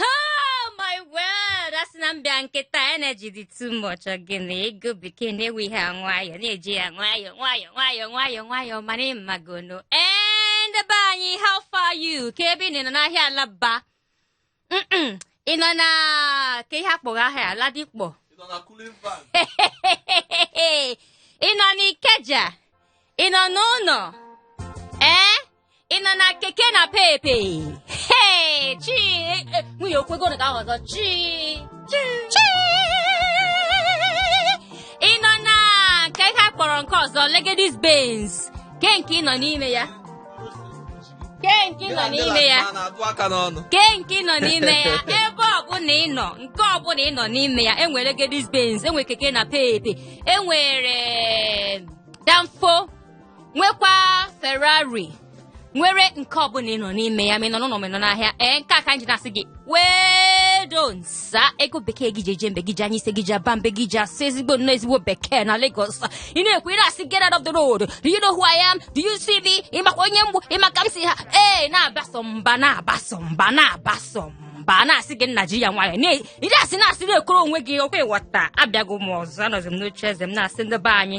Oh my word! A sị na m bịa kịta energy dị too much gịnị ego bekee na-ewe ihe a nwayọọ na-eji ya nwayọọ nwayọọ nwayọọ nwayọọ nwayọọ mana ị magonu ee ndị be anyị how far you kee ebe ị nọ n'ahịa alaba Mm-mm. ị nọ na nke ha kpọrọ ahịa ladipo ị nọ n'ikeja ị nọ n'ụlọ ee ị nọ na keke napepe Hey, chi eh, eh, nwiyo okwego na ka ahụ ọzọ chi chi ị nọ na nke ha kpọrọ nke ọzọ legedis benz ke nke ị nọ n'ime ya ke nke ị nọ n'ime ya na-atụ aka n'ọnụ ke nke ị nọ n'ime ya ebe ọbụla ị nọ nke ọbụla ị nọ n'ime ya enwere legedis benz enwere keke napepe enwere danfo nwekwa ferrari nwere nke ọbụla ị nọ n'ime ya ma ị nọ n'ụlọ ma ị nọ n'ahịa ee nke a ka anyị ji na-asị gị wedo nsa ego bekee gị ji eje mbe gị ji anya isi gị ji aba mba gị ji asụ ezigbo nnọọ ezigbo bekee na Lagos ị na-ekwu ị na-asị get out of the road do you know who I am do you see me ị makwa onye m bụ ị ma ka m si ha ee na-abaso mba na-abaso mba na-abaso mba a na-asị gị nna ji ya nwayọ ị na-asị na-asị na-ekoro onwe gị ọkwa ịghọta abịago m ọzọ anọzi m n'oche eze m na-asị ndị be anyị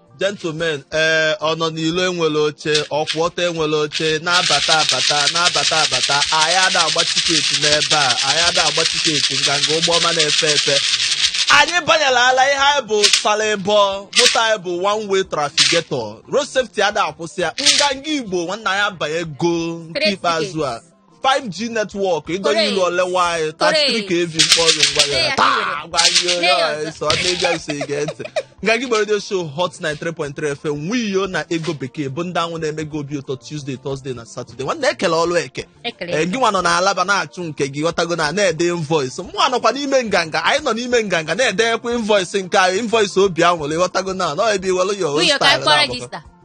gentlemen ee ọ nọ n'ilo enwere oche ọ kwụ ọtọ enwere oche na-abata abata na-abata abata anyị ada agba tiketi n'ebe a anyị ada agba tiketi nganga ụgbọ ọma na-efe efe anyị banyere ala ihe anyị bụ salịbọ moto anyị bụ one way trafficator road safety ada akwụsị ya nganga igbo nwanna ya abanyego nke Straight ikpeazụ a ticket. 5G network ịdọnye ilu ole nwanyị 33 kV mkpọrọ mgbagara taa gwa gị onye ọha eso ọ na-ebi eso ige ntị nganga igbo radio show hot 93.3 fm nwiyo na ego bekee bụ ndị anwụ na-eme gị obi ụtọ tuesday thursday na saturday nwanne ekele ọlụ eke Ekele. Ee, gị nwa nọ na alaba na-achụ nke gị ghọtago na na-ede invoice mụnwa nọkwa n'ime nganga anyị nọ n'ime nganga na-edekwa invoice nke anyị invoice obi anwụrị ịghọtago na nọ ebe i welu ya Nwiyo ka anyị kpọọ register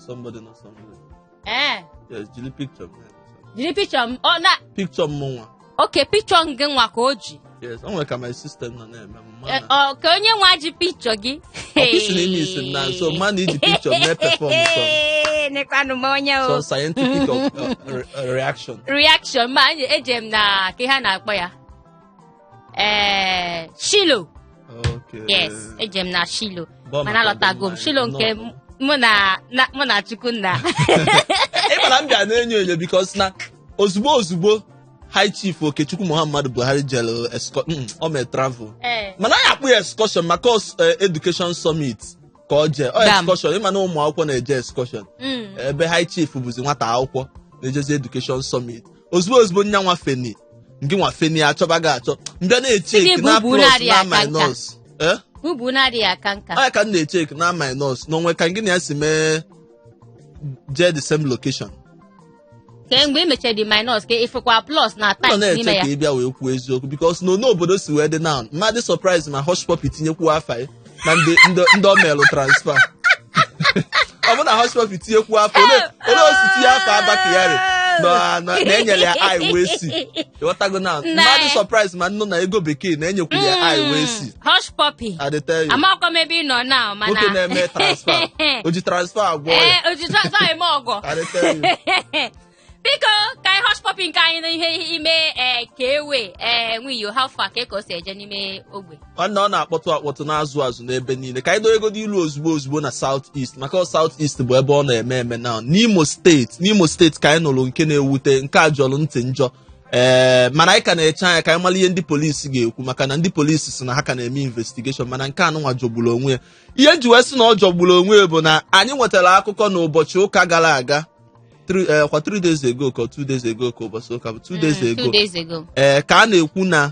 somebody na somebody ee yes jiri picture m jiri picture m ọ na picture m nwa okay picture gị nwa ka o ji yes o nwere ka my system nọ na-eme m ma Eh, na ọ ka onye nwa ji picture gị ọkụisi na ime isi m na nso ma na iji picture mee perform some Ee, nekwanụ m onye o some scientific of, uh, re- reaction reaction mana eje m na kee ihe a na-akpọ ya ee shiloh Okay. yes eje m na shiloh Bọọ mana maka alọtago m ọdịmma shiloh anyị. nke m- mụ na na- mụ na chukwunna ị mara m bịa na-enyo enyo because na ozugbo ozugbo high chief okechukwu muhammadu buhari jere esco- mm, o mere travel ee mana anyị akpọ ya excursion maka os- eh, education summit ka o jee excursion ịma na ụmụ akwụkwọ na-eje excursion Mm. ebe high chief bụzi nwata akwụkwọ na-ejezi education summit ozugbo ozugbo nya nwa feni ngị nwa feni achọba gị achọ mbịa na-echeki na plus na minus Sị gị bubu anaghị aka nka. Eh? Ubu na-adịghị aka nka. onye ka m na-echeki na minus na o nwe ka ngị na ya si mee jee the same location ka mgbe e mechara the minus ka ịfụkwa plus na ọ times na-eche n'ime ya ka ị bịa wee kwuo eziokwu because na onu obodo si wee dị now mmadụ surprise ma Hushpuppi tinyekwuo afa ya na ndị ndị- ndị ọ melụ transfer ọ bụ na Hushpuppi tinyekwuo afa ole ole o si tinye afa Abba Kyari na na- na-enyere ya i wee si ịghọtago na Nne. mmadụ surprise ma m nụ na ego bekee na-enyekwu ya i wee si Hushpuppi I dey tell amakwa m ebe ị nọ na mana nwoke na-eme transfer o ji transfer agwọ ọya ee o ji transfer eme ọgọ I dey tell biko ka anyị Hushpuppi nke anyị n'ihe ime ee ka ewe ee nwiyo how far ka ka o si eje n'ime ogbe nwanne ọ na-akpọtụ akpọtụ na-azụ azụ n'ebe niile ka anyị dowegodo ilu ozugbo ozugbo na South East maka ọ South East bụ ebe ọ na-eme eme na n'Imo steeti n'Imo steeti ka anyị nụrụ nke na-ewute nke a jọrọ ntị njọ ee mana anyị ka na-eche anya ka anyị mara ihe ndị polisi ga-ekwu maka na ndị polisi si na ha ka na-eme investigation mana nke anụnwa jọgburu onwe ya ihe m ji wee sị na ọ jọgburu onwe ya bụ na anyị nwetara akụkọ n'ụbọchị ụka gara aga three- eh, ọ kwa 3 days ago ka 2 days ago ka ụbọchị ụka bụ 2 days Mm, ago two days ago. ee ka a na-ekwu na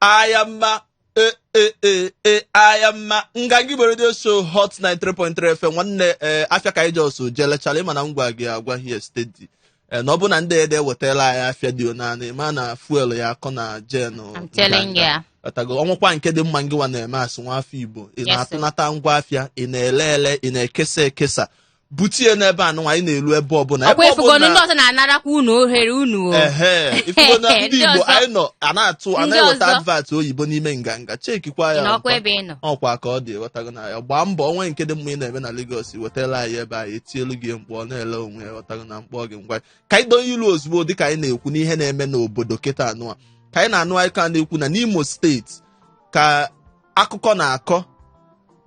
ahịa mma ee e, e, e, ahịa mma Nganga Igbo radio show Hot 93.3 FM nwanne ee afịa ka anyị ji ọsọ je lechala ịma na m gwa gị agwa here steady ee na ọ bụ na ndị ede wetala anyị afịa dị ọnụ anị ma na fuel ya akọ na gen I'm telling you. ghọtago o nwekwa nke dị mma ngịwa na-eme as nwa afọ Igbo ị Yes, na-atụnata ngwa afịa ị na-ele ele ị na-ekesa ekesa butie n'ebe a nụnwa anyị na-elu ebe ọbụla ọkwa ebe ifugonu ndị ọbụla ọzọ na-anarakwa unu ohere unu o ehe ifugo na ndị Ndị Igbo ọzọ. anyị nọ a na-atụ a Ndị na-eweta ọzọ. advert oyibo n'ime Nganga chekikwa ya n'ọkwa ọkwa. ebe ị nọ ọkwa ka ọ dị ghọtago na ya gbaa mbọ o nwe nke dị mma ị na-eme na Lagos wetara anyị ebe anyị etielu gị mkpu ọ na-ele onwe ya ghọtago na mkpọ gị ngwa ka anyị donye ilu ozugbo dịka anyị na-ekwu n'ihe na-eme n'obodo kịta anụwa ka anyị na-anụ anyị ka na-ekwu na n'Imo steeti ka akụkọ na-akọ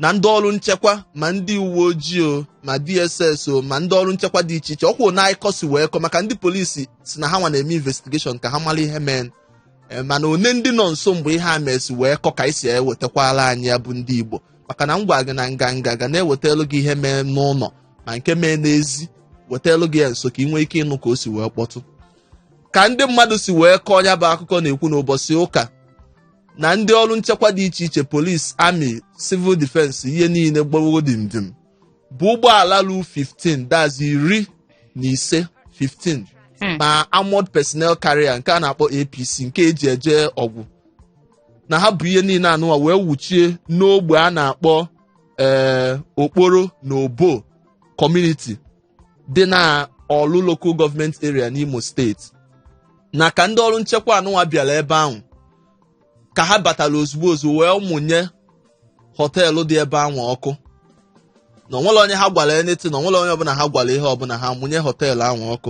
na ndị ọrụ nchekwa ma ndị uwe ojii o ma DSS o ma ndị ọrụ nchekwa dị iche iche ọkwa one akụkọ si wee kọ maka ndị polisi si na ha nwa na-eme investigation ka ha mara ihe mee Eh, mana one ndị nọ nso mgbe ihe a me si wee kọ ka e si ewetakwala anyị ya bụ ndị Igbo maka na m gwa gị na Nganga ga na-ewetelu gị ihe mee n'ụlọ ma nke mee n'ezi wetelu gị ya nso ka ị nwee ike ịnụ ka o si wee kpọtụ ka ndị mmadụ si wee kọọ ya bụ akụkọ na-ekwu n'ụbọchị ụka na ndị ọrụ nchekwa dị iche iche polis amị civil defense ihe niile gbawo dimdim bu ụgbọala ru 15 that's iri na ise 15 Hmm. ma armored personnel carrier nke a na-akpọ apc nke eji eje ọgụ na ha bu ihe niile anụwa wee wuchie n'ogbe a na-akpọ ee okporo na obor kọmuniti dị na ọlụ local gọọmenti area n'imo steeti na ka ndị ọrụ nchekwa anụnwa bịara ebe ahụ ka ha batara ozugbo ozugbo wee mụnye họteelụ dị ebe ahụ ọkụ na onwerọ onye ha gwara anything na onwerọ onye ọbụla ha gwara ihe ọbụla ha mụnye họteelụ ahụ ọkụ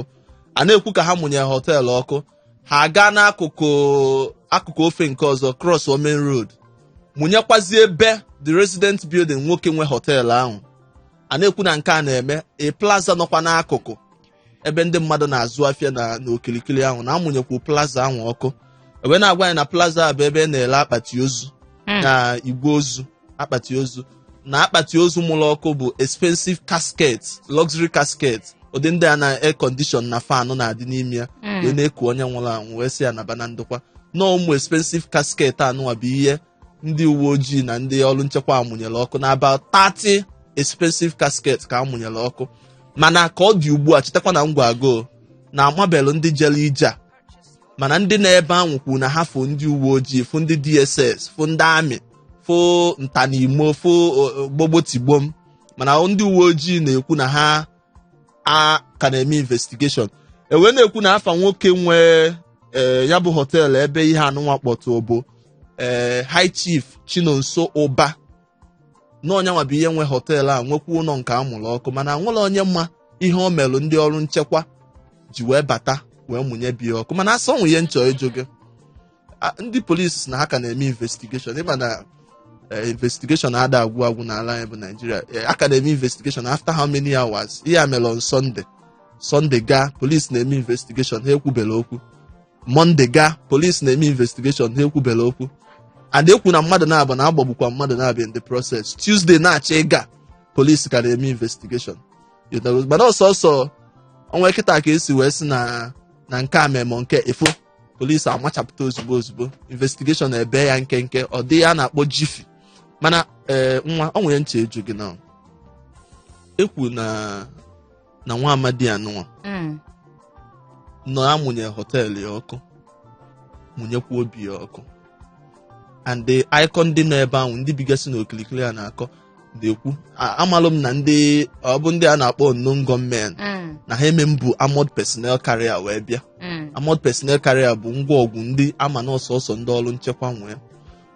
a na-ekwu ka ha mụnye họteelụ ọkụ ha gaa n'akụkụ akụkụ ofe nke ọzọ cross main road mụnyekwazie ebe the resident building nwoke nwe họteelụ ahụ a na-ekwu na nke a na-eme a plaza nọkwa n'akụkụ ebe ndị mmadụ na-azụ afịa na n'okirikiri ahụ na amụnyekwu plaza ahụ ọkụ e wee na-agwa anyị na plaza a bụ ebe a na-ele akpati ozu Mm. na igbe ozu akpati ozu na akpati ozu a mụrụ ọkụ bụ expensive casket luxury casket ụdị ndị a na air condition na fan na-adị n'ime ya Mm. wee na-eku onye nwụrụ anwụ wee sị ya naba na ndokwa na ụmụ expensive casket anụwa bụ ihe ndị uwe ojii na ndị ọrụ nchekwa a mụnyere ọkụ na about 30 expensive casket ka a mụnyere ọkụ mana ka ọ dị ugbu a chetakwa na m gwago na amabelụ ndị jere ije a mana ndị nọ ebe ahụ kwuru na ha fụ ndị uwe ojii fụ ndị dss fụ ndị amị fụ nta na imo fụ gbogbotigbom mana ndị uwe ojii na-ekwu na ha a ka na-eme investigeshọn e wee na-ekwu na afa nwoke nwe ee ya bụ họteelụ ebe ihe anụnwa kpọtụ bụ ee high chief chinonso ụba na onye anwa bụ onye nwe họteelụ a nwekwa ụlọ nke a mụrụ ọkụ mana enwerọ onye ma ihe o merụ ndị ọrụ nchekwa ji wee bata wee mụnye be ya ọkụ mana a sị o nwe ihe m chọ ịjụ gị Ah, ndị polisi na ha ka na-eme investigeshon ịma na eh, investigeshon ada agwụ agwụ n'ala anyị bụ naijiria Eh, a ka na-eme investigeshon after how many hours ihe a mere on sunday sunday gaa polisi na-eme investigeshon ha ekwubela okwu monday gaa polisi na-eme investigeshon ha ekwubela okwu and e kwu na mmadụ naabọ na a gbagbukwa mmadụ naabọ in the process tuesday na-achọ ịga polisi ka na-eme investigeshon You know, mana ọsọ ọsọ ọnwa kịta ka esi wee sị na na nke a memọ nke ifo polisi amachapụta ozugbo ozugbo investigeshọn e bee ya nkenke ụdị a na-akpọ jiffy mana ee nwa o nwere ihe m chọ ịjụ gị na e kwu na na nwa amadi anụnwa Mm. na a mụnye họteelụ ya ọkụ mụnyekwa obi ya ọkụ and akụkọ ndị nọ ebe ahụ ndị bigasị n'okirikiri a na-akọ na-ekwu A- amalụ m na ndị ọ bụ ndị a na-akpọ unknown gunmen Mm, na ha ama ebu armored personnel carrier wee bịa mm, armored personnel carrier bụ ngwa ọgụ ndị ama na ọ sọsọ ndị ọrụ nchekwa nwee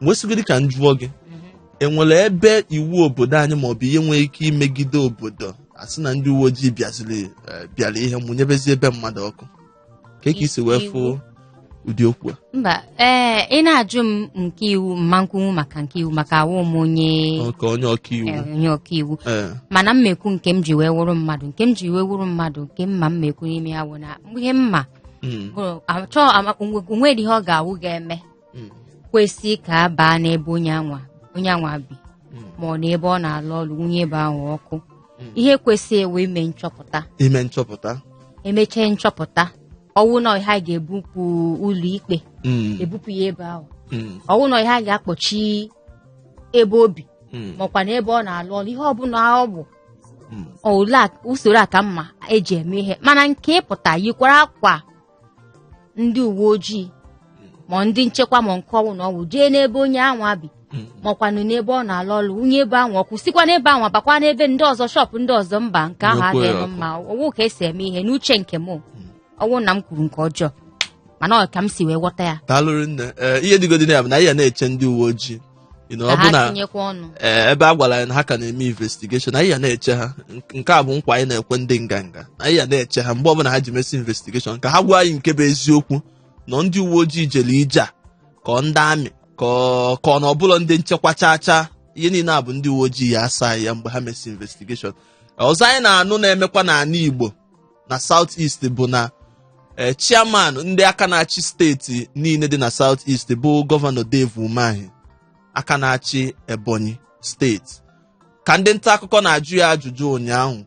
wesịgodi ka m jụọ gị mhm. enwere ebe iwu obodo anyị maọbụ ihe nwere ike imegide obodo asị na ndị uwe ojii bịaziri eh, bịara ihe mụnyebezie ebe mmadụ ọkụ kee ka i si wee fụ ụdị okwu a mba ee ị na-ajụ m nke iwu m ma-ekwunwu maka nke iwu maka awụ m onye nke onye ọka iwu eh, onye ọka iwu eh. mana mmekwu nke m ji wee wụrụ mmadụ nke m ji wee wụrụ mmadụ nke m ma mmekwu n'ime ya wụ na ihe m ma hmm. achọọ onwere ihe ọ ga-awụ ga-eme mm. kwesị ka a baa n'ebe onye anwa onye anwa bi mm. ma ọ n'ebe ọ na-alụ ọrụ mụnye ebe ahụ ọkụ mm. ihe kwesị wụ ime nchọpụta ime nchọpụta emechee nchọpụta ọwụ na ha ga-ebupụ ụlọ ikpe ebupụ ya ebe ahụ ọwụ na ha ga-akpọchi ebe obi makwa na ebe ọ na-alụ ọrụ ihe ọbụla ọ bụ usoro a ka mma eji eme ihe mana nke ịpụta yikwara akwa ndị uwe ojii ma ndị nchekwa ma nke ọwụna ọwụ jee n'ebe onye anwa bi makwanụ n'ebe ọ na-alụ ọlụ mụnye ebe anwa ọkụ sikwa n'ebe anwa bakwa n'ebe ndị ọzọ shop ndị ọzọ mba nke ahụ adịghị mma ọwụ ka esi eme ihe n'uche nke m ọwụ na m kwuru nke ọjọọ mana ọ ka m si wee ghọta ya daalụ rinne ee ihe dịgodị na ya bụ na anyị ya na-eche ndị uwe ojii You know, ka ọ bụ ha na tinyekwa ọnụ ee, ebe a gwara anyị na ha ka na-eme investigation anyị ya na-eche ha Nk- nke a bụ nkwa anyị na-ekwe ndị nganga anyị ya na-eche ha mgbe ọbụla ha ji mesịa investigation ka ha gwa anyị nke bụ eziokwu na ọ ndị uwe ojii jere ije a ka ọ ndị army ka ọ- ka ọ na ọ bụrọ ndị nchekwa chaa chaa ihe niile a bụ ndị uwe ojii ya asa anyị ya mgbe ha mesịa investigation ọzọ anyị na-anụ na-emekwa n'ala igbo na South East bụ na ee chairman ndị aka na-achị steeti niile dị na South East bụ gọvanọ Dave Umahi aka na-achị Ebonyi steeti ka ndị nta akụkọ na-ajụ ya ajụjụ ụnyaahụ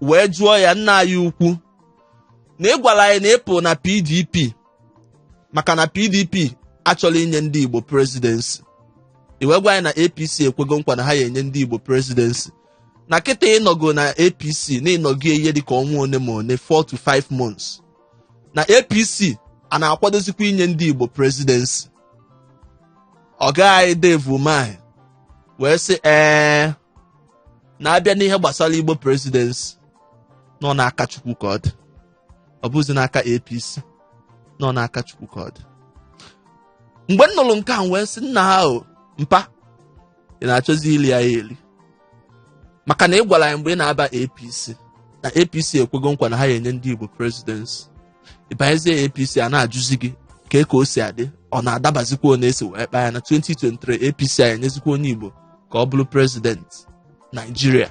wee jụọ ya nna anyị ukwu na ị gwara anyị na ịpụ na PDP maka na PDP achọrọ inye ndị Igbo presidency i wee gwa anyị na APC ekwego nkwa na ha ya enye ndị Igbo presidency na kịta ịnọgo na apc na ịnọgo ihe dịka ọnwa one ma one 4 to 5 months na apc a na-akwadozikwa inye ndị igbo presidency ọga anyị Dave Umahi wee sị ee na-abịa n'ihe gbasara igbo presidency na ọ n'aka chukwu ka ọ dị ọ bụzi n'aka apc na ọ n'aka chukwu ka ọ dị mgbe m nụrụ nke a m wee sị nna ha o mpa ị na-achọzi ili ya eli maka na ị gwara anyị mgbe ị na-aba apc na apc ekwego nkwa na ha ya-enye ndị igbo presidency ịbanyezie apc a na-ajụzi gị kee ka o si adị ọ na-adabazikwa one e si wee kpaa ya na 2023 apc a na-enyezikwa onye igbo ka ọ bụrụ prezidenti naijiria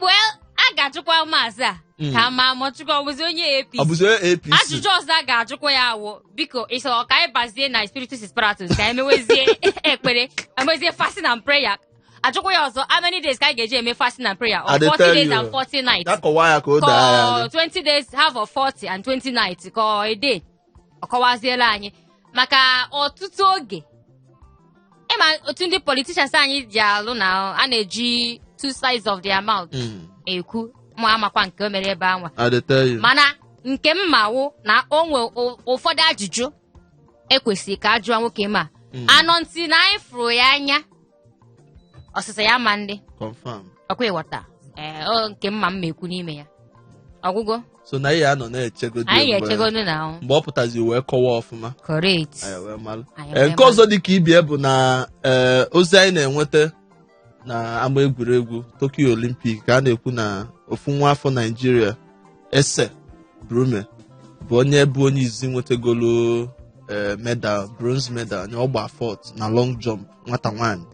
well a ga-ajụkwa maazị a Mm. ka a ma ma chukwu ọ bụzi onye APC ọ bụzi apc ajụjụ ọzọ a ga-ajụkwa ya awụ biko ịsọ ka anyị bazie na spiritus spiratus ka anyị mewezie ekpere emezie fasting and prayer ajụkwa ya ọzọ how many days ka anyị ga-eji eme fasting and prayer I dey tell you. ọ 40 days and 40 nights ya kọwaa ya ka o doo ya anya ka ọ 20 days half of 40 and 20 nights ka ọ a day ọ kọwaziela anyị maka ọtụtụ oge ị ma otu ndị politicians anyị ji alụ na a na-eji two sides of their mouth Mm. ekwu ma amakwa nke o mere ebe anwa I dey tell you. mana nke m ma wụ na o nwe ụ- ụfọdụ ajụjụ e kwesịrị ka a jụọ nwoke m a Mm. anọ ntị na anyị fụrụ ya anya ọsịsa ya ma ndị confam ọkwa ịghọta ee ọ nke m ma m na-ekwu n'ime ya ọ gwụgwo so na anyị ya-anọ na-echegodo anyị mgbe- ga-echegonu na ahụ mgbe ọ pụtazi wee kọwa ọfụma correct anyị wee malụ. Anyị Ee, wee nke ọzọ dị ka ibie bụ na ee, ozi anyị na-enweta na ama egwuregwu Tokyo Olympic ka a na-ekwu na ofu nwa afọ Naijiria Ese Brume bụ onye bụ onye izi nwetagolo ee, medal bronze medal na ọ gba fourth na long jump nwata nwaanyị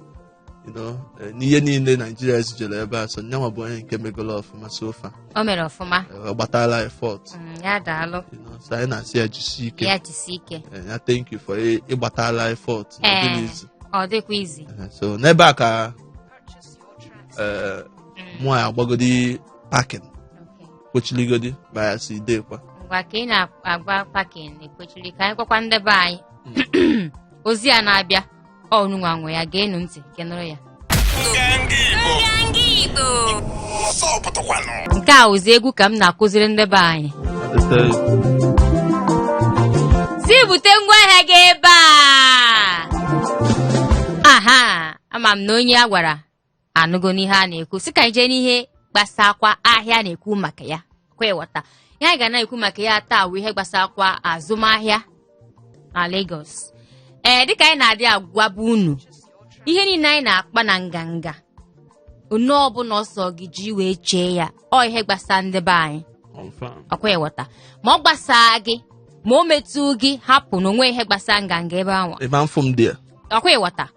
you know, eh, n'ihe niile naijiria zijere ebe a so nyanwa bụ onye nke megolo ọfụma so far o mere ọfụma eh, ọ gbatala ya fourth Mm, ya daalụ you know, so anyị na-asị ya jisie ike ya jisi ike Eh, ya thank you for ị- ịgbatala ya fourth na ọ dịghị easy ọ dịkwa easy Eh, so n'ebe a ka eh, mụ ya-agbagodi parking Okay. kpochiligodi bịa sị deekwa ngwa ka ị na-agba parking ekwechiri ka anyị gwakwa ndị be anyị ozi a na-abịa ọ ụnụnwa nwe ya geenụ ntị ka ị nụrụ ya nke a wụzi egwu ka m na-akụziri ndị be anyị sị bute ngwa ahịa gị ebe a aha ama m na onye a gwara anụgo n'ihe a na-ekwu si ka anyị jee n'ihe gbasakwa ahịa a na-ekwu maka ya ọkwa ịghọta ihe anyị ga na-ekwu maka ya taa bụ ihe gbasakwa azụmahịa na Lagos ee dịka anyị na-adị agwaba unu ihe niile anyị na-akpa na nganga one ọbụla ọ sọ gị ji wee chee ya ọ ihe gbasa ndị be anyị Confirm. ọkwa ịghọta ma ọ gbasaa gị ma o metụ gị hapụ na o nwe ihe gbasa nganga ebe ahụ Ebe afọ m dị ya. ọkwa ịghọta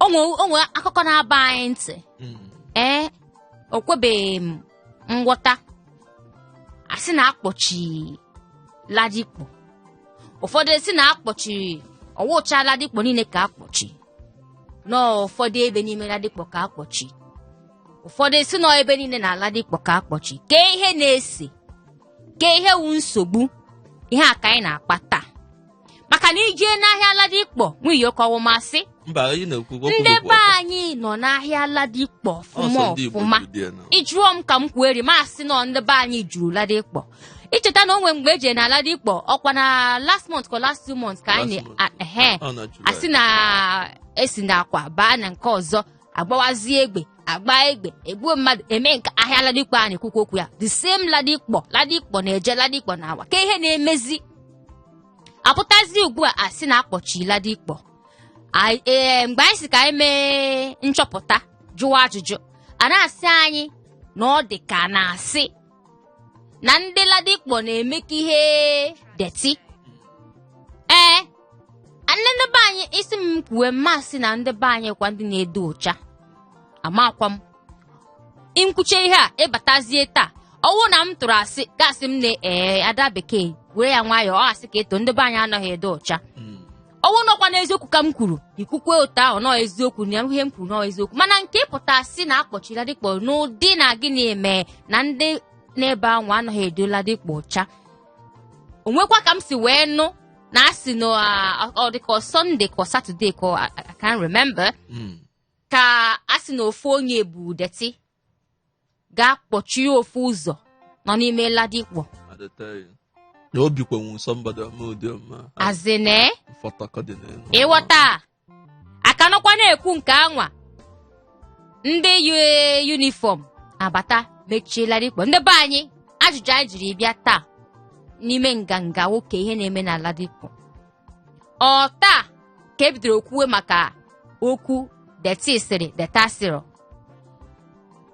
o nwe o nwe akụkọ na-aba anyị ntị Mm. ee o kwebeghị m nghọta a sị na akpọchi Ladipo ụfọdụ asị na akpọchiri ọ wụcha Ladipo niile ka akpọchi na ụfọdụ ebe n'ime Ladipo ka akpọchi ụfọdụ asị na ebe niile na Ladipo ka akpọchi kee ihe na-ese kee ihe wụ nsogbu ihe a ka anyị na-akpa taa maka na i jee n'ahịa Ladipo nwunye ka ọ wụ m asị mba ị na-ekwu okwu ndị bụ be ọtọ. anyị nọ n'ahịa Ladipo Ọ sọ ọfụma ndị Igbo ọfụma juru dị ya na- ị jụọ m ka m kwueri m asị na ndị be anyị juru Ladipo i cheta na o nwe mgbe eji na Ladipo ọkwa na last month ka last two months ka anyị Last month. na- ehe Ọ na July. asị na esi na akwa baa na nke ọzọ agbawazie egbe agba egbe egbuo mmadụ eme nke ahịa Ladipo a na-ekwukwa okwu ya the same Ladipo Ladipo na-eje Ladipo na-awa kee ihe na-emezi apụtazi ugbu a asị na akpọchi Ladipo Anyị- ee, mgbe anyị sị ka anyị mee nchọpụta jụwa ajụjụ a na-asị anyị na ọ dị ka a na-asị na ndị Ladipo na-emeka ihe dirty ee ndị ndị be anyị ị sị m kwuwe m asị na ndị be anyị kwa ndị na-edo ụcha amakwa m m kwuche ihe a ị batazie taa ọ wụ na m tụrụ asị ga-asị m na ee Ada Bekee were ya nwayọọ ọ asị ka ị tụ ndị be anyị anaghị edo ụcha ọ wụnụkwa na eziokwu ka m kwuru i kwukwe otu ahụ na ọ eziokwu na ihe m kwuru na ọ eziokwu mana nke ịpụta sị na akpọchi Ladipo n'ụdị na gịnị eme na ndị n'ebe ahụ anaghị edo Ladipo ọcha o nwekwa ka m si wee nụ na a sị na ah, ọ dịka ọ Sunday ka ọ Saturday ka ọ- I I can't remember Mm. ka a sị na ofu onye bu dirty gaa kpọchie ofu ụzọ nọ n'ime Ladipo na obi kwenwu nsọ mgbada ọma ụdị ọma azịna mfọtakọ dị n'elu ịghọta a ka nọkwa na-ekwu nke anwa ndị uniform abata mechie Ladipo ndị be anyị ajụjụ anyị jiri bịa taa n'ime nganga wụ kee ihe na-eme na Ladipo ọ taa ka ebidoro kwuwe maka okwu dirty sịrị dirty asịrị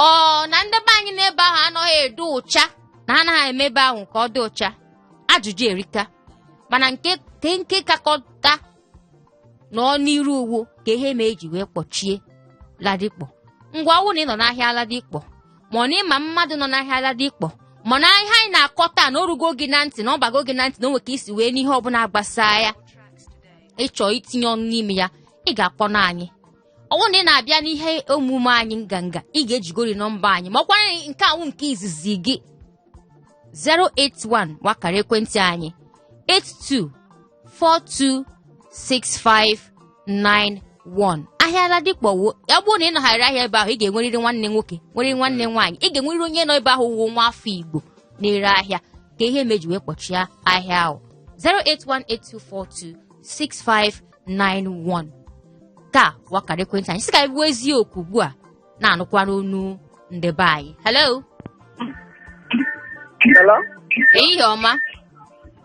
ọ na ndị be anyị n'ebe ahụ anaghị edo ụcha na ha anaghị eme ebe ahụ ka ọ dị ụcha ajụjụ erika mana nke ke nke kakọta nọ n'iru wụ kee ihe mee eji wee kpọchie Ladipo ngwa ọ wụ na ị nọ n'ahịa Ladipo ma ọ na ị ma mmadụ nọ n'ahịa Ladipo ma na ihe anyị na-akọ taa na o rugo gị na ntị na ọ bago gị na ntị na o nwe ka i si wee nụ ihe ọbụla gbasaa ya ị chọọ itinye ọnụ n'ime ya ị ga-akpọ na anyị ọ wụ na ị na-abịa n'ihe omume anyị nganga ị ga-ejigori nọmba anyị ma ọkwa nke a wụ nke izizi gị 081 wụ akara ekwentị anyị 82 426591 ahịa Ladipo o ya bụrụ na ị nọgharị ahịa ebe ahụ ị ga-enwerịrị nwanne nwoke nwere nwanne nwaanyị ị ga-enwerịrị onye nọ ebe ahụ wụ nwa afọ igbo na-ere ahịa ka ihe meji wee kpọchie ahịa ahụ 08182426591 ka wụ akara ekwentị anyị sị ka anyị kwuo eziokwu ugbu a na-anụkwara onu ndị be anyị hello Hello? ehihie ọma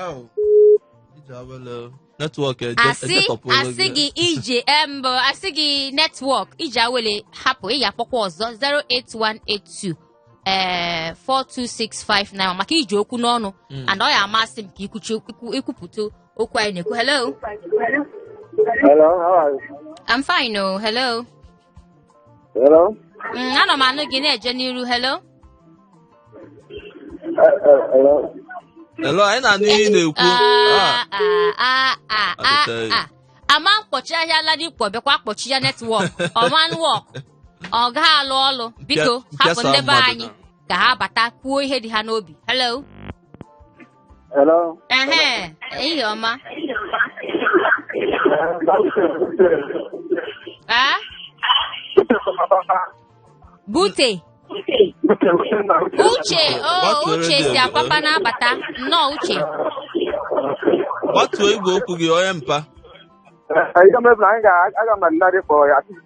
Au. Ije awele. Netwọk eje asị esetọpụ olu asị gị ije mbụ asị gị netwọk Ije awele hapụ ị ga-akpọkwa ọzọ 08182 ee 42659 maka iji okwu n'ọnụ Mm. and ọ ya-amasị m ka ikwuchi ikwu- ikwupụta okwu anyị na-ekwu hello Hello, how are you? I'm fine oh hello Hello? Mm, ana m anụ gị na-eje n'iru hello Eh, eh, Hello? Hello, anyị na-anụ ihe ị na-ekwu. Ah, Ah, ah, ah, ah, Ọ ah, dịchaghị. ah. a ma-akpọchi ahịa Ladipo bịakwa kpọchie netwọk ọ ma work ọ gaghị alụ ọlụ biko Mpịa- hapụ mpịasa ndị be mmadụ anyị na- ka ha bata kwuo ihe dị ha n'obi hello Hello. Ehe, ehihie ọma. Ah, bute. Uche, oh, Gbatuo Uche redio si gị. Apapa na-abata. Nnọọ Uche. gbatuo igwe okwu gị onye mpa Ihe mebiri anyị ga-aga ma nna gị kpọrọ ya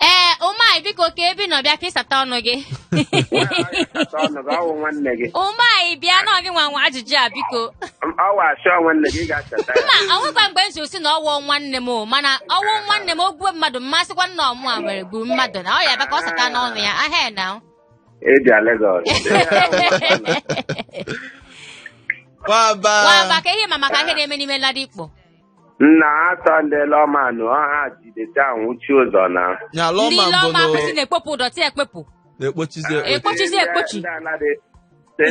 ee ụmai biko ka ebe ị nọ bịa ka ị sata ọnụ gị Kata ọnụ gị, ọwụ nwanne gị. ụmai bịa na ọ gị nwe ajụjụ a biko Ọwụ asị ọ nwanne gị, ị ga-achọta ya. mba ọnwụkwa mgbe m si na ọwụ nwanne m o mana ọwụ nwanne m o gbuo mmadụ a ma-asịkwa na ọ mụwa were gburu mmadụ na ọ ya bịa ka ọ sata ọnụ ya ahịa na Ị bịa Legọs. Nwamba. nwamba ka ihe ị ma maka ihe na-eme n'ime Ladipo nna ha tọ ndị LAWMA nụ ọ ha ji dọtị ahụ wụchi ụzọ na nya ndị LAWMA ile mbụ ọma na kwụsị na-ekpopụ dọtị ekpepụ na-ekpochizi ekpochi ekpochizi ekpochi Ndị Ladi-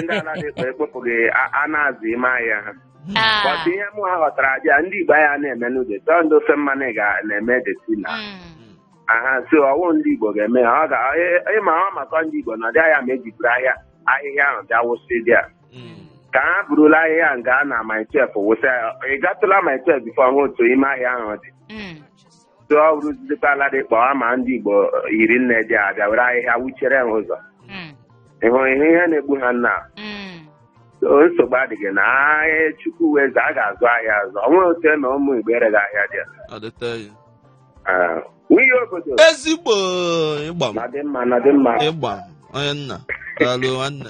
ndị Ladipo ekpopụghị a- a na-azụ ime ahịa ha Ah, bọtụ ihe mụwa ghọtara abịa ndị igbo aha na-emenụ dọtị ọ ndị ofe mmanụ ị ga- na-eme dọtị nna mm. ha sị ọwụ ndị igbo ga-eme ya ọ ga ị ma ọ maka ndị igbo nọ there ahụ me e ji buru ahịa ahịhịa ahụ bịa wụsa there Mm. ka ha burula ahịhịa ahụ gaa na Mile 12 wụsa ya ị gatụla Mile 12 bifo hụ otu ime ahịa ahụ dị Mm. so ọ bụrụzikwa Ladipo a ma ndị igbo hiri nne there a bịa were ahịhịa wụchiere ha ụzọ Mm. ị hụrụ ihe ihe na-egbu ha nna Mm. o nsogbu adịghị na ahịa chukwu wụ eze a ga-azụ ahịa azụ o nweghị otu e me ụmụ igbo ereghị ahịa there Ọ dịte ya. Ah, nwunye obodo ezigbo ịgba m na dị mma na dị mma ịgba m onye nna daalụ nwanne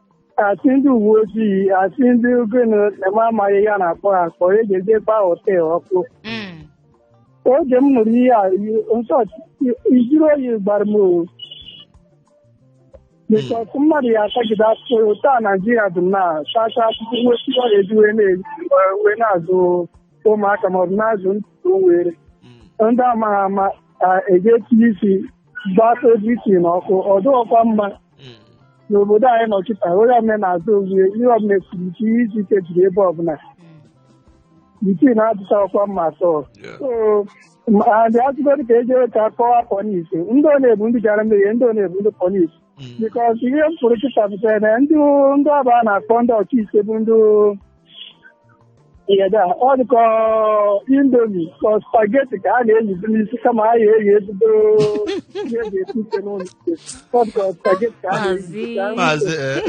asị ndị uwe ojii asị ndị gịnị eme amaghị ihe a na-akpọ ha akpọ e ji edekwa họtel ọkụ Mm. oge m nụrụ ihe a nsọ ijiri oyi gbara m o bikọs mmadụ ya atagide afụfụ otu a naijiria dị na tacha afụfụ nweta ihe ọ ya-eji wee na- wee na-azụ ụmụaka maọbụ na-azụ ntụtụ were Mm. ndị amaghị ama eji etinye isi gbasa ojii na ọkụ ọ dịghịkwa mma Mm. n'obodo anyị nọ kịta onye ọbụla na-azụ ozuwe ihe ọbụla kwuru ike ihe isi ike jiri ebe ọbụla ike na-adịcha ọkwa mma atọ Yeah. so ma a sịgodu ka e jee ka kọwa pọlis ndị ọ na-ebu ndị gara mmehie ndị ọ na-ebu ndị pọlis Mm. bikọs ihe m fụrụ kịta pụtara na ndị ndị ọba a na-akpọ ndị ọkaikpe bụ ndị ihe da ọ dịka indomi ka spageti ka a na-eyizi n'isi kama ha ya-eyi ebido ihe e ji ekpe ikpe n'ụlọ ikpe ọ dịka spageti ka a na-eyizi ka a maazị eh,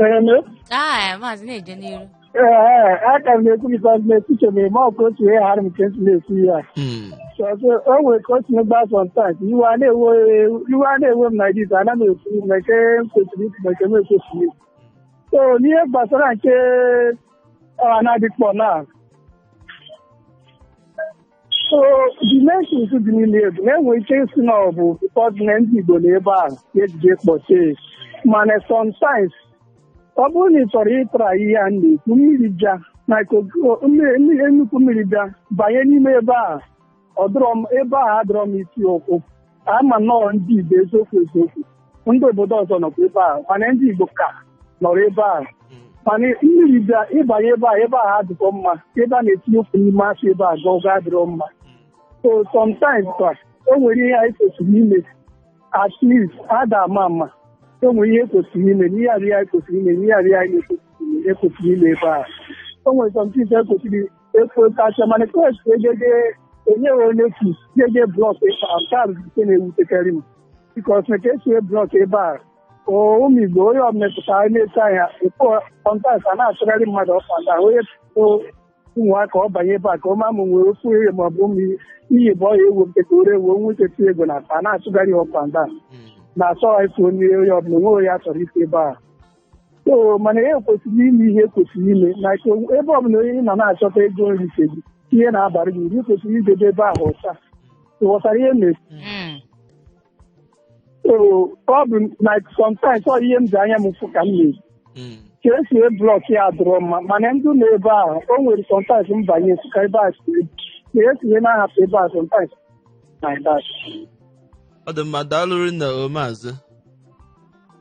Ee, na- Ah, maazị na-eje n'iru. Ee, aka m na-ekwu bikọs na-ekwuche m ma ọkụ otu ihe ghara m nke ntị na-ekwu ya. Mm. So o nwere ka o si megba sometimes iwe a na-ewe iwe a na-ewe m na dis ana m ekwu ma nke m kwesịrị ikwu ma nke m ekwesịrọ ikwu. So n'ihe gbasara nke ọha na-adịkpọ na so demolition dị n'ime ebu na-enwe ike isi na ọ bụ because na ndị Igbo nọ ebe ahụ ka e ji wee kpọchie ya. mana sometimes ọ bụrụ na ị chọrọ ịtara ihe a na-ekwu mmiri bịa na iko- mmiri- mmiri- nnukwu mmiri bịa banye n'ime ebe ahụ ọ dịrọ mma ebe ahụ adịrọ mma iti ụkwụ a ma na ọ bụ ndị Igbo eziokwu eziokwu ndị obodo ọzọ nọkwa ebe a mana ndị Igbo ka nọrọ ebe a mana mmiri bịa ịbanye ebe a ebe a adịrọ mma ebe a na-etinye ụkwụ n'ime afịa ebe a gọgọ adịrọ mma so sometimes kwa o nwere ihe anyị kwesịrị ime at least ada ama ama o nwere ihe e kwesịrị ime na area anyị kwesịrị ime na area anyị na-ekwesịrị ime ekwesịrị ime ebe a o nwere something ekwesịrị ekwetacha mana kos egede enyeghị notice jee blọk ebe a nke a bụ nke na-ewutekarị m bikos na ka esi blọk ebe a ụmụ igbo onye ọ metụtara na-eto anya ekpo kọntas a na-achụgharị mmadụ up and down onye ụmụaka ọ banye ebe a ka ọma mụ nwere ofu ihe ma ọ bụ ụmụ iyi bụ ọya ewu nke ka o ree ewu o nwee ike tinye ego na akpa a na-achụgharị up and down na-achọghị ife onye onye ọbụla o nwee onye a chọrọ ite ebe a so mana ihe kwesịrị ime ihe e kwesịrị ime na ebe ọbụla onye nọ na-achọta ego nri nke gị ihe na-abara gị uru kwesịrị idebe ebe ahụ ọcha ị ghọtara ihe mere Mm. so ọ bụ na sometimes ọ ihe m ji anya m fụ ka m na-eji Mm. ka esi wee blọk ya dịrọ mma mana ndị nọ ebe ahụ o nwere sometimes m banye ka ebe a si ka esi wee na-ahapụ ebe a sometimes ọ dị mma daalụ rinne o maazị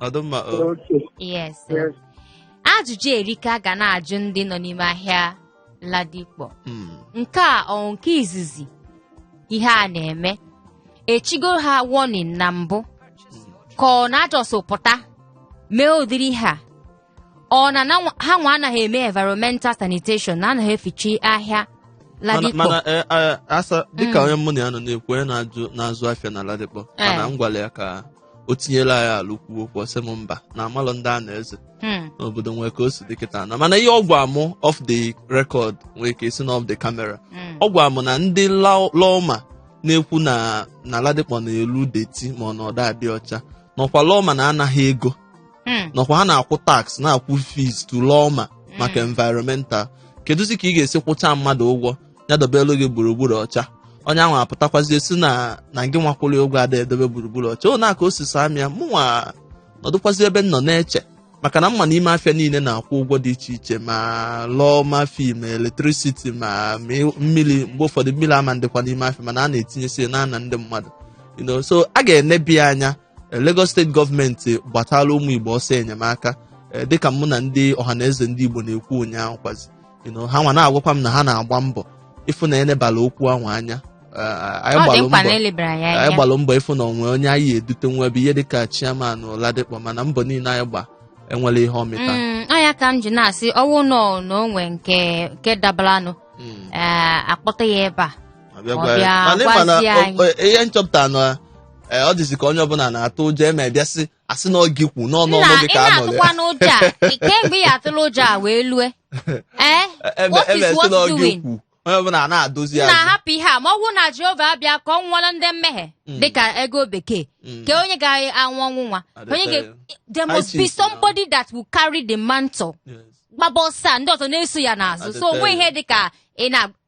ọdụmma o Okay. yes sir. Yes. ajụjụ erika ga na-ajụ ndị nọ n'ime ahịa Ladipo Mm. nke a ọ nke izizi ihe a na-eme echigo ha warning na mbụ ka ọ na a just pụta mee ụdịrị ihe a ọ na na nwa- ha nwa anaghị eme environmental sanitation na anaghị efichi ahịa mana Ladipo mana eh, eh, asa dịka onye mụ na ya nọ na-ekwu onye na-ajụ na-azụ afịa na Ladipo Eh. mana m gwara ya ka o tinyela anyị alụ kwuo okwu ọ sị m mba na amalọ ndị a na-eze Hmm. na obodo nwee ka o si dị kịta na mana ihe ọ gwa mụ off the record nwee ka esi na off the camera Mm. ọ gwa mụ na ndị law- lawma na-ekwu na na Ladipo na-elu dirty ma ọ na ọ da adị ọcha na ọkwa lawma na-ana ha ego Hmm. na ọkwa ha na-akwụ tax na-akwụ fees to lawma maka environmental kedụzi ka ị ga-esi kwụcha mmadụ ụgwọ ya dobelu gị gburugburu ọcha onye ahụ apụtakwazie sị na na gị nwa kwụrụ ya ụgwọ ada edobe gburugburu ọcha na ọ ka o si saa m ya mụnwa nọdụkwazi ebe m nọ na-eche maka na m ma na ime afịa niile na-akwụ ụgwọ dị iche iche ma lawma fee ma electricity ma ma ị- mmiri mgbe ụfọdụ mmiri ama adịkwa n'ime afịa mana a na-etinyesi ya na-ana ndị mmadụ you know, so a ga-enebi ya anya Lagos State government gbatala ụmụ Igbo ọsọ enyemaka dịka mụ na ndị ọhaneze ndị Igbo na-ekwu ụnyaahụ kwazi ha nwa na-agwakwa m na ha na-agba mbọ ịfụ na enebala okwu ahụ anya anyị gbalụ mbọ ịfụ na o nwe onye anyị edute nwa ebe ihe dịka chairman Ladipo mana mbọ niile anyị gba enwerọ ihe ọ mịta mm, ọ ya ka m ji na-asị ọ wụ nọọ na o nwe nke dabaranụ mm. eh, akpọta ya ebe a Ọ bịa Ọ gwa ya. bịa Mana ị ma na gwazie o- anyị. o- ihe nchọpụta na ee, ọ dịzi ka onye ọbụla na-atụ ụjọ e me bịa sị asị na ọ gị kwu n'ọnụ ọnụ gị ị ka a nụrụ na-atụkwa ya n'ụjọ a Ị- kemgbe ị atụla ụjọ a wee lue ee ebe what ebe is sị na what ọ gị doing kwu onye ọbụla na-adozi ya na azụ. hapụ ihe a ma ọ bụrụ na Jehova abịa ka ọ nwụọra ndị mmehie Mm. dịka ego bekee Mm. ka onye ga-anwụ ọnwụ nwa At the onye ga time. there must be Crisis now. somebody that will carry the mantle Yes. gbaba ọsọ a, ndị ọzọ na-eso ya At n'azụ the so o nwe time. ihe dịka ị na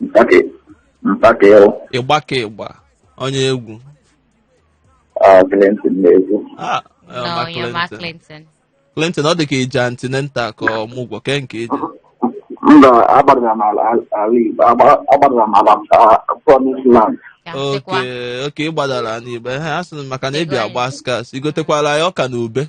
Mpake. Mpake o. ị gba ka ị gba onye egwu Ah, Clinton na-egwu. Ah, eh, No, ma you're Mark Clinton. Clinton. Clinton ọ dị ka i je antenatal ka ọmụgwọ ke nke i je Mba, agbadara m ala ala Igbo. Agba- Agbadara m ala ah, Promised Land. Ka m sịkwa, oke oke ị gbadara n'Igbo ha a sị m maka na ị bịa Igwe anyị. agba scarce i gotekwala ya ọka na ube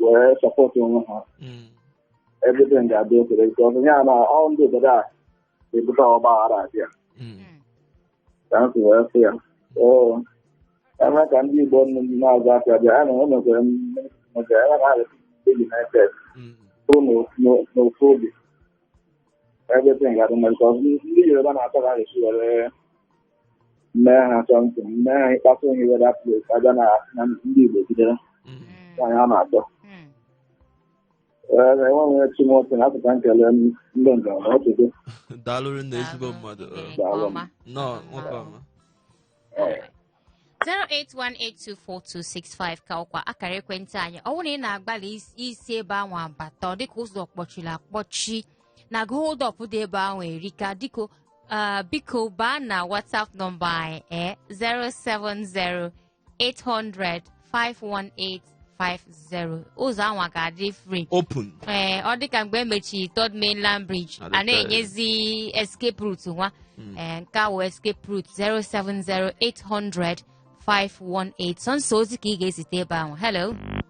wee sọpọtụ onwe ha Mm. everything ga-adị okay nke ọzọ ya na ọ ndị obodo a na-ebute ọgba aghara abịa Mm. ka m si wee sị ya oo eme ka ndị Igbo nnu ndị na-azụ afịa bịa ya na o mekwere m maka ya na anyị adị united Mm. kwụrụ n'ofu- n'o- n'ofu obi everything ga-adị mma nke ọzọ ndị Yoruba na-achọ ka anyị si were mee ha something mee ha ịkpata onye weda plet abịa na na ndị igbo bidoro Mm. nwaanyị a na-atọ Mm. Ee, na enwe nwere timoti na apụta nkele ndị njem na ọtụtụ daalụ nne ezigbo Daalụ. mmadụ Ee, nke Daalụ. ọma. nnọọ nwoke ọma Alright. 081824265 ka ọkwa akara ekwentị anyị ọ bụrụ na ị na-agbalị is- isi ebe anwa bata ọ dịka ụzọ kpọchiri akpọchi na gụ hold up dị ebe ahụ erika biko ah, biko baa na whatsapp nọmba anyị eh, 070 800 518 50 ụzọ ahụ ga-adị free open ee ọ dịka mgbe e mechiri third mainland bridge Adịka a na-enyezi escape route nwa ee nke a wụ escape route 070 800 518 sọnsọ ozi ka ị ga-ezite ebe ahụ hello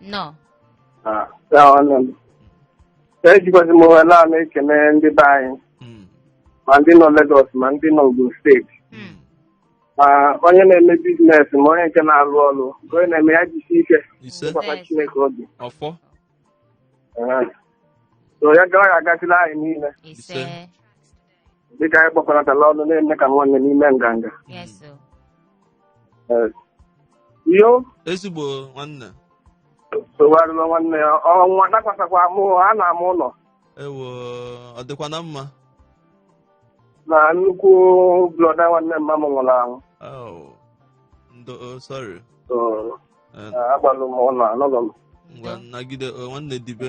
nnọọ Ah, ya nwanne m. Ejikwazi m ohere a na-ekene ndị be anyị Mm, ma ndị nọ Legọs ma ndị nọ Ogun steeti Mm. ma onye na-eme biznes ma onye nke na-alụ ọrụ nke onye na-eme ya jisi ike ise tụkwasị Yes. Chineke obi ọfọ Ah. so ya gawa ya agazịla anyị niile ise Ise. dịka anyị gbakọnatala ọnụ na-eme ka nwanne n'ime nganga Yes, sir. Eh, yo ezigbo nwanne sogharịla nwanne ya ọnwụ dakwasakwa mụ anaa m ụlọ ewo ọ dịkwa na mma na nnukwu brother nwanne mma m nwụrụ anwụ Oh, ndo oh, sorry So, Eh, eh, agbalụ m ụlọ anọlọ m ngwa nagide oh, nwanne dibe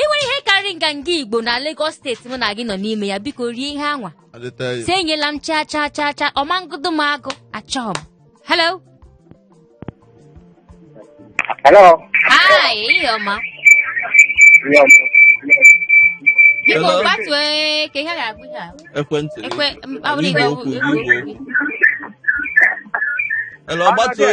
ị nwere ihe karịrị nganga igbo na Lagos steeti mụ na gị nọ n'ime ya biko rie ihe anwa si enyela m chaa chaa chaa chaa ọmangodo m agụ achọọ m hello hello ehihie ọma biko gbatue ka ihe ga-agụ ihe a ekwentị ekwe mkpawụrụ igwe okwu hello gbatue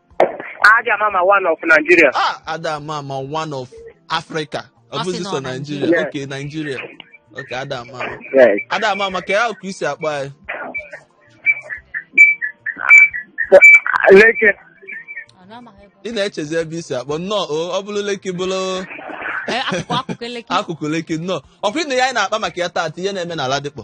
Ada ama ama one of Nigeria. ah ada ama ama one of africa ọ Ọ sị bụzi na sọ ọ Nigeria. naijiria okay naijiria okay ada ama ama Yes. ada ama ama ka ya ka i si akpọ anyị Lekki. Ọ na-amaghị ebe ọ ị na-echezi ebe i si akpọ nnọọ o ọ bụrụ Lekki bụrụ nọ. Ee, akụkụ akụkụ Lekki akụkụ Lekki nnọọ ọkwa ihe a anyị na-akpa maka ya taata ihe na-eme na Ladipo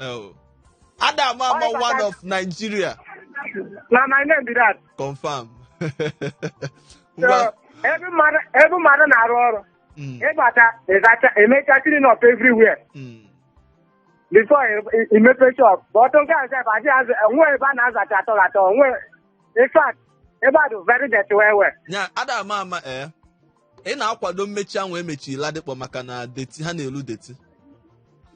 Oh. Ada ama ama Ọrịa one kaka- of Nigeria. na my name be that Confirm. so Ngwa- ebe mmadụ ebe mmadụ na-arụ ọrụ Mm, ịbata ịzacha emecha clean up everywhere mm. before ị- ị- imepe shop but nke a sef adịghị azụ o nwe ebe a na-azacha at all at all o nwe in fact ebe a dị very dirty well well Ya, Ada ama ama eh. ị na-akwado mmechi ahụ e mechiri Ladipo maka na dirty ha na-elu dirty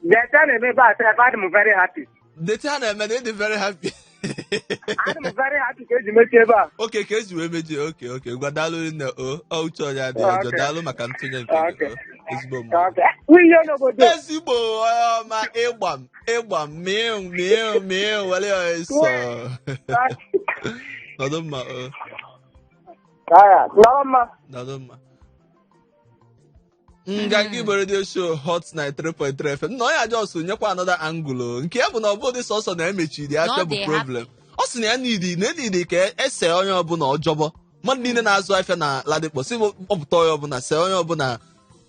Dirty a na-eme ebe a sef adị m very happy. dirty ha na-eme na ịdị very happy Adị m very happy ka eji mechie ebe a. okay ka eji wee mechie okay okay ngwa daalụ nne o ọ uche onye adị ọjọọ Okay. daalụ maka ntụnye nke gị Okay. o ezigbo mma Okay. Nwunye n'obodo. ezigbo onye ọma ịgba m ịgba m mịụ mịụ mịụ were ya eso nọdụ mma o Aya, nọrọ mma. daalụ mma Nganga Igbo radio show hot 93.3 fm na onye a just nyekwa another angle nke ya bụ na ọ bụdị sọsọ na emechiri ya Na ọ afịa bụ the problem ọ sị na ya need na edidi ka ese onye ọbụla ọjọbọ mmadụ niile na-azụ afịa na Ladipo si wepụta onye ọbụla see onye ọbụla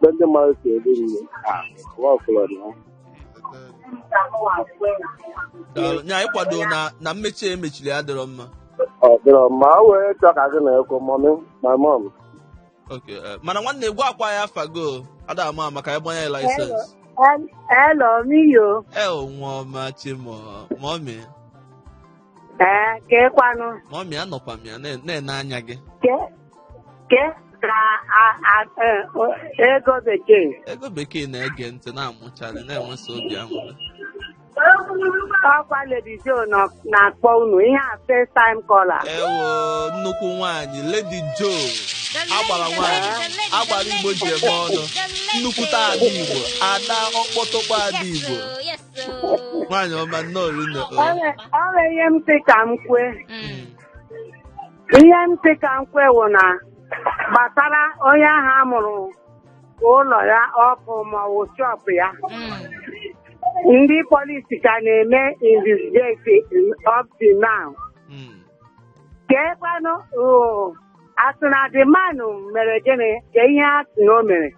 mgbe ndị mmadụ si eri nri a nwa ọfụlọ na daalụ nya anyị kwado na na mmechi a emechiri ya adịrọ mma ọ dịrọ mma o wee chọọ ka gị na ekwu mummy ma mọm Okay, eh, mana nwanne gwakwa anyị afa gị o ada ama ama ka anyị gbanye license Hello, Miyo. e nwa ọma Chi m o mummy ee keekwanụ mummy anọkwa m ya na- na-ene anya gị ke ke ka a- a- e- o- ego bekee ego bekee na-ege ntị na-amụcharị na-enwesa obi aṅụrị ọkwa Lady Joe nọ- na-akpọ unu ihe a first time caller ewo nnukwu nwaanyị lady joe agbara nwaanyị agbara igbo ji eme ọnụ nnukwute ada igbo ada ọkpọtọkpọ ada igbo nwaanyị ọma nnọọ rinne o. ọ bụ ihe m sị ka m kwue Mm. ihe m sị ka m kwue wụ na gbasara onye ahụ a mụrụ ụlọ ya ọkụ ma ọ wụ shop ya Mm. ndị polisi ka na-eme investigate up to now Mm. keekwanụ asị na the man mere gịnị kee ihe a sị na o mere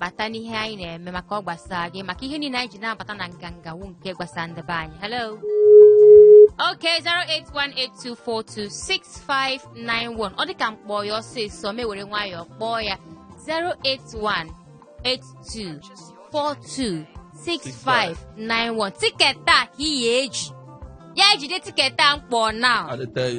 bata n'ihe anyị na-eme maka ọ gbasara gị maka ihe niile anyị ji na-abata na nganga wu nke gbasara ndị be anyị hello Okay, 08182426591. Ọ dịka m kpọọ ya ọsịsọ m ewere nwayọọ kpọọ ya 08182426591. Tiketi a ka ị ya eji. Ya ejide tiketi a m kpọọ now. I dey tell you.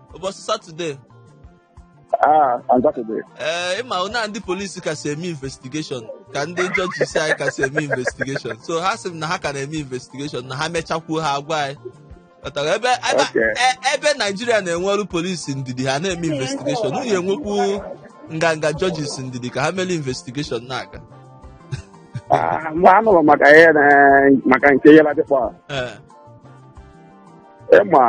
ụbọchị satọde Ah, on Saturday. ee ịma na ndị polisi kasị eme investigeshọn ka ndị jọjisi anyị kasị eme investigeshọn so ha sị m na ha ka na-eme investigeshọn na ha mechakwuo ha agwa anyị Ghọtara? ebe ebe- Okay. e- ebe naijiria na-enweru polisi ndidi ha na-eme investigeshọn unu enwekwu nganga jọjis ndidi ka ha mere investigeshọn na-aga Ah, mgbe anụrụ maka ihe na- maka nke ihe ladịkpọ Ee. ịma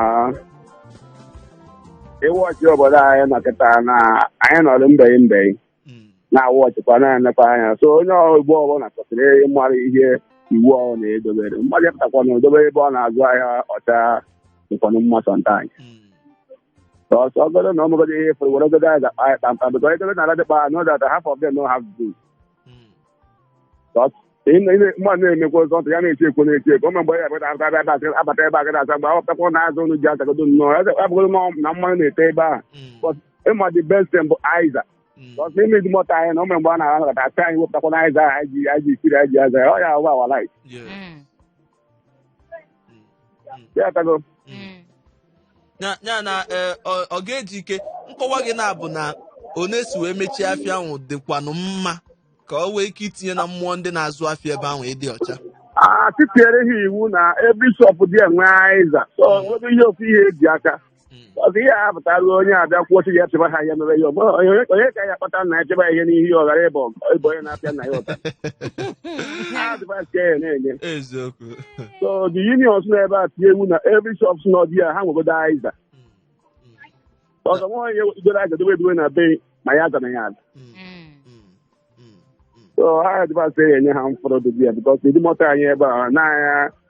ịwọchị obodo anyị nọ kịta na anyị nọrọ mbeghị mbeghị Mm. na-awọchịkwa na-enekwa anya so onye Igbo ọbụla kwesịrị ịmara ihe iwu ọhụrụ na-edobere mmadụ pụtakwa na idobe ebe ọ na-azụ ahịa ọcha dịkwanụ mma sometimes Mm. Because ọ bụrụ na ọmụgọdị ihe fụrụ were ogodo anyị ga-akpa anyị kpamkpam because edebe na ladịkpọ I know that half of them no have this. Mm. Because ị na- ị na- mmadụ na-emekwa ụzọ ntụ ya na-eti ekwo na-eti ekwo ma mgbe ya abata abata abata abata abata ebe a gada asa mgbe akwụkwọ na azụ unu ji azagodo nnọọ ya abụgodo na na mmanụ na-ete ebe ahụ Mm. But ịma the best thing bụ aiza Mm. Because n'ime Idumota anyị na ụmụ mgbe a na-anakọta asị anyị wepụtakwa na aiza ahụ anyị ji anyị ji siri anyị ji aza ya ọ ya wụ our life Yes. Mm. Mm, mm, ya atago mm. Mm. ya ya na eh, ọ ọ ga-eji ike nkọwa gị na-abụ na onye si wee mechie afịa ahụ dịkwanụ mma ka o nwee ike itinye na mmụọ ndị na-azụ afịa ebe ahụ ịdị ọcha a titiere ha iwu na every shop there nwee aiza so nwere ihe ofu ihe eji aka Mm. ọzọ ihe a pụtara onye abịa kwuo sị ya chịba ha ihe mere ya ọgbọ onye onye ka ya kpata nna ya chịba ya ihe n'ihu ya ọ ghara ịbụ ịbụ onye na-apịa nwa ya ụta advice ka ya na-enye eziokwu so the unions nọ ebe a tinye iwu na every shop nọ there ha nwegodo aiza ọzọ nwa onye goro aiza dobe edobe na be ma ya aza na ya aza Mm, Mm. mm, mm, mm. so ha advice ya enye ha mfọrọ dobe ya bikos Idumota anyị ebe a na-anya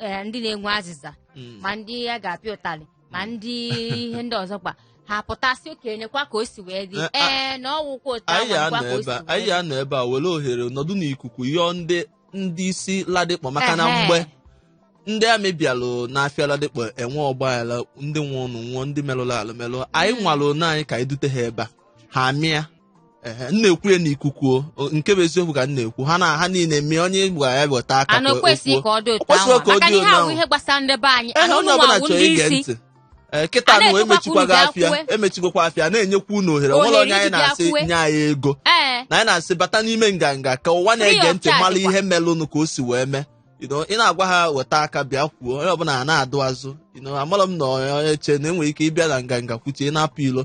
eh, ndị na-enwe azịza Mm. ma ndị a ga-apịa ụtalị ma ndị ihe ndị ọzọ kwa ha pụtasị okenye nyekwa ka o si wee dị Eh, a- ee na ọwụkwa otu anyị ahụ nkwa ga-anọ ka o ebe si a wee anyị dị. ga-anọ ebe a were ohere nọdụ n'ikuku yọọ ndị ndị isi ladịkpọ maka na Ehe. mgbe ndị army bịalụ n'afịa ladịkpọ enwe ọgbaghara ndị nwụlụnụ nwụọ ndị merụrụ alụ merụọ anyị nwara onwe anyị ka anyị dute ha ebe a ha bịa Ehe, m na-ekwu ya n'ikuku o. O, nke bụ eziokwu ka m na-ekwu ha na ha niile mee onye gwara ya weta aka ana ka o kwesịrị ka kwuo. ọ dị O otu kwesịrị ahụ ka ọ maka na dị ihe otu ahụ ahụ. ihe gbasara ndị be anyị Ehe, ana onye ụmụ ọbụla awụ chọrọ ndị ige isi ntị Ee, kịta A na wee na-ekwukwa mechikwa unu gị bịa afịa kwue. emechikwa afịa na-enyekwa unu ohere Ohere nwere onye anyị iji bịa na-asị kwue. nye anyị ego ee na anyị na-asị bata n'ime nganga ka ụwa na-ege Free of ntị charge mara kwa. ihe melụnụ ka o si wee mee You know, ị na-agwa ha weta aka bịa kwuo onye ọbụla a na-adụ azụ You know, amarọ m na onye che na enwere ike ịbịa na nganga kwuchie na-apụ ilo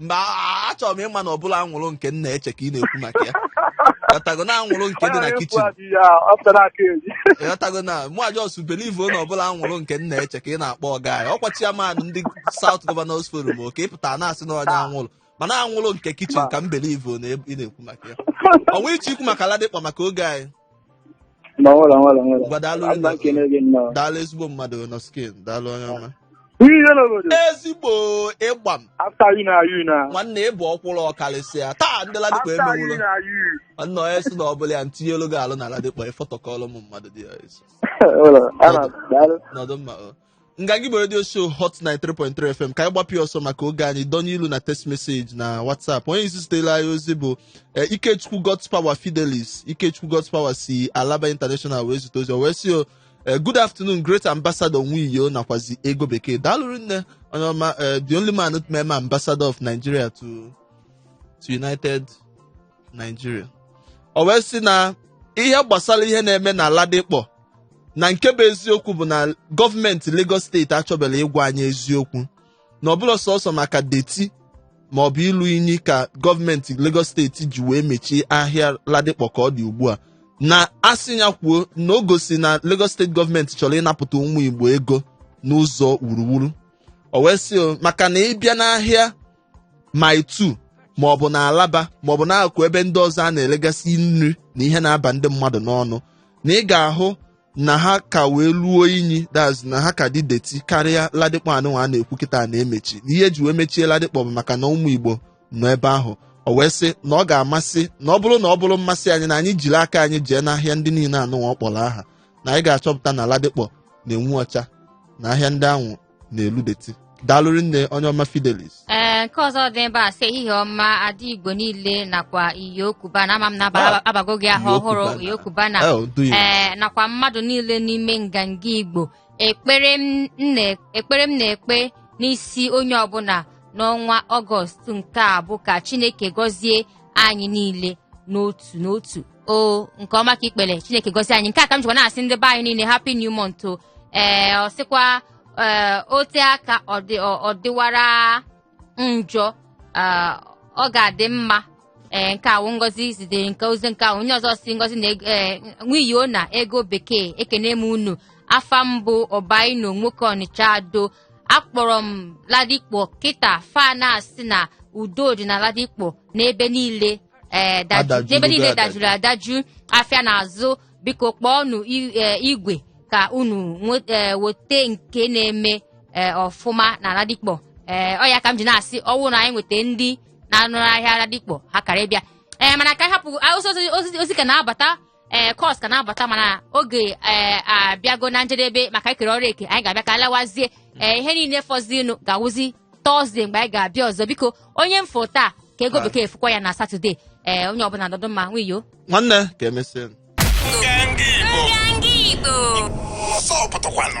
mba a- achọrọ m ịma na ọ bụla anwụrụ nke m na-eche ka ị na-ekwu maka ya ghọtago na anwụrụ nke dị na kitchen ghọtago na mụ just believe na ọ bụla anwụrụ nke m na-eche ka ị na-akpọ ọga ya ọkwa chairman ndị South Governors Forum o ka ị pụtara na-asị na onye anwụrụ mana anwụrụ nke kitchen ka m believe na ị na-ekwu maka ya ọnwa iche ikwu maka Ladipo maka oge anyị Ma nwere nwere nwere. Ngwa daalụ Abba rinne kene gị nnọọ. daalụ ezigbo mmadụ nọ skin daalụ onye ọma. Ihe ihe n'obodo. Ezigbo ịgba m After you na you na. nwanne ị bụ ọkwụrụ ọkarịsịa taa ndị Ladipo After you emewụrụ na you. nwanne onye sị na ọ bụla ya ntinye olu gị alụ na Ladipo ịfọtọkọrọ ụmụ mmadụ dị ya esi Nwere. Ana daalụ. nọdụ mma o nganga igbo redio show hot 93.3 fm ka anyị gbapịa ọsọ maka oge anyị donye ilu na text message na whatsapp onye isi zitere anyị ozi bụ eh, ikechukwu god's power fidelis ikechukwu god's power si alaba international wee zite ozi o wee sị o eh, good afternoon great ambassador nwiyo nakwazi ego bekee daalụ rinne onye ọma eh, the only man to meme ambassador of nigeria to to united nigeria o wee sị na ihe gbasara ihe na-eme na Ladipo na nke bụ eziokwu bụ na gọọmenti Lagos steeti achọbela ịgwa anyị eziokwu na ọ bụla sọsọ maka dirty ma ọ bụ ilu inyi ka gọọmenti Lagos steeti ji wee mechie ahịa Ladipo ka ọ dị ugbu a na a sị ya kwuo na o gosi na Lagos steeti gọọmenti chọrọ ịnapụta ụmụ Igbo ego n'ụzọ wuruwuru o wee sị maka na ị bịa n'ahịa Mile 2 ma ọ bụ na Alaba ma ọ bụ n'akụkụ ebe ndị ọzọ a na-elegasị nri na ihe na-aba ndị mmadụ n'ọnụ na ị ga-ahụ na ha ka wee luo inyi that's na ha ka dị dirty karịa Ladipo anụnwa a na-ekwu kịta na-emechi na ihe e ji wee mechie Ladipo bụ maka na ụmụ Igbo nọ ebe ahụ o wee sị na ọ ga-amasị na ọ bụrụ na ọ bụrụ mmasị anyị na anyị jiri aka anyị jee n'ahịa ndị niile anụnwa ọ kpọrọ aha na anyị ga-achọpụta na Ladipo na-enwu ọcha na ahịa ndị ahụ na-elu dirty daalụ rinne onye ọma fidelis ee nke ọzọ dị ebe a sị ehihie ọma adị igbo niile nakwa iyi okuba na ama m na aba- Ah. a bago gị aha Iyi ọhụrụ Okuba na- iyi okuba na Eh, do you- ee nakwa mmadụ niile n'ime nganga igbo ekpere m na- ekpere m na-ekpe n'isi onye ọbụla n'ọnwa ọgọst nke a bụ ka chineke gọzie anyị niile n'otu n'otu o nke ọma ka i kpere chineke gọzie anyị nke a ka m jikwa na-asị ndị be anyị niile happy new month o ee ọ sịkwa ee o te aka ọ dị- ọ- ọ dịwara njọ ee, ọ ga-adị mma ee nke a wụ ngozi zitere nke ozi nke ahụ onye ọzọ sị ngozi na nwiyo na ego bekee ekene m unu afa m bụ ọbaino nwoke ọnịcha ado akpọrọ m Ladipo kịta fa na-asị na udo dị na Ladipo n'ebe niile ee daju- Adajuru n'ebe niile adajuru. dajuru adaju afịa na-azụ biko kpọọnụ i- eh, igwe ka unu nwe- eh, weta nke na-eme eh, ọfụma na Ladipo ee ọ ya ka m ji na-asị ọ wụrụ na anyị nweta ndị na-anụrụ ahịa Ladipo ha kara ịbịa ee mana ka anyị hapụ ah, ozi- ozi- ozi ozi ka na-abata ee calls ka na-abata mana oge ee abịago na njedebe maka ikere ọrụ eke anyị ga-abịa ka alawazie ee ihe niile fọzinụ ga-awụzi Thursday mgbe anyị ga-abịa ọzọ biko onye m fụ taa ka Ego Bekee fụkwa ya na Saturday ee onye ọbụla nọdụ mma nwiyo nwanne ka emesịa Nganga Igbo. Nganga Igbo. Ọzọ pụtakwanụ.